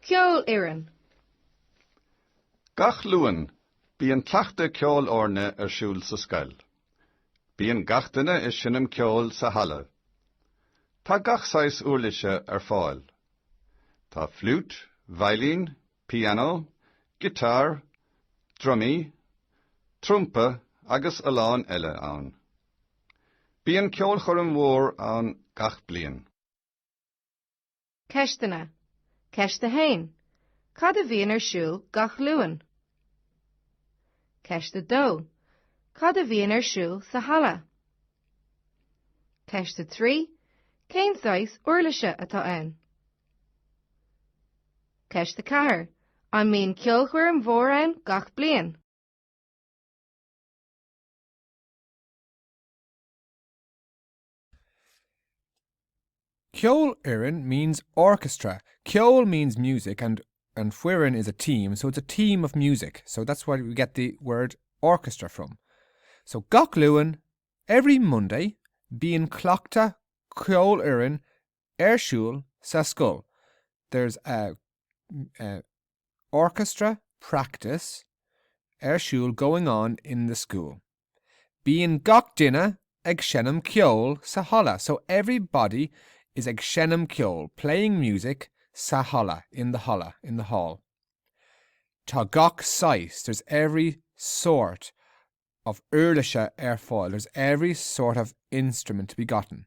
Ceolfhoireann. Gach Luan, bíonn cleachtadh ceolfhoirne ar siúl sa scoil. Bíonn gach duine ag seinm ceoil sa halla. Tá gach saghas uirlise ar fáil. Tá fliúit, veidhlín, Pianó, giotár, drumaí, trumpa agus a lán eile ann. Bíonn ceolchoirm mhór ann gach bliain. Ceisteanna. Ceist 1, Cad a bhíonn ar siúl gach Luan? Ceist 2, Cad a bhíonn ar siúl sa halla? Ceist 3, Cén saghas uirlise atá ann? Ceist 4, An mbíonn ceolchoirm mhór ann gach bliain? Ceolfhoireann means orchestra, ceol means music and and foireann is a team so it's a team of music so that's where we get the word orchestra from. So gach Luan, every Monday, bíonn cleachtadh ceolfhoireann ar siúl sa scoil there's a, eh, orchestra practice ar siúl going on in the school bíonn gach duine ag seinm ceoil sa halla so everybody is ag seinm ceoil playing music sa halla in the halla, in the hall tá gach saghas there's every sort of uirlise ar fáil there's every sort of instrument to be gotten.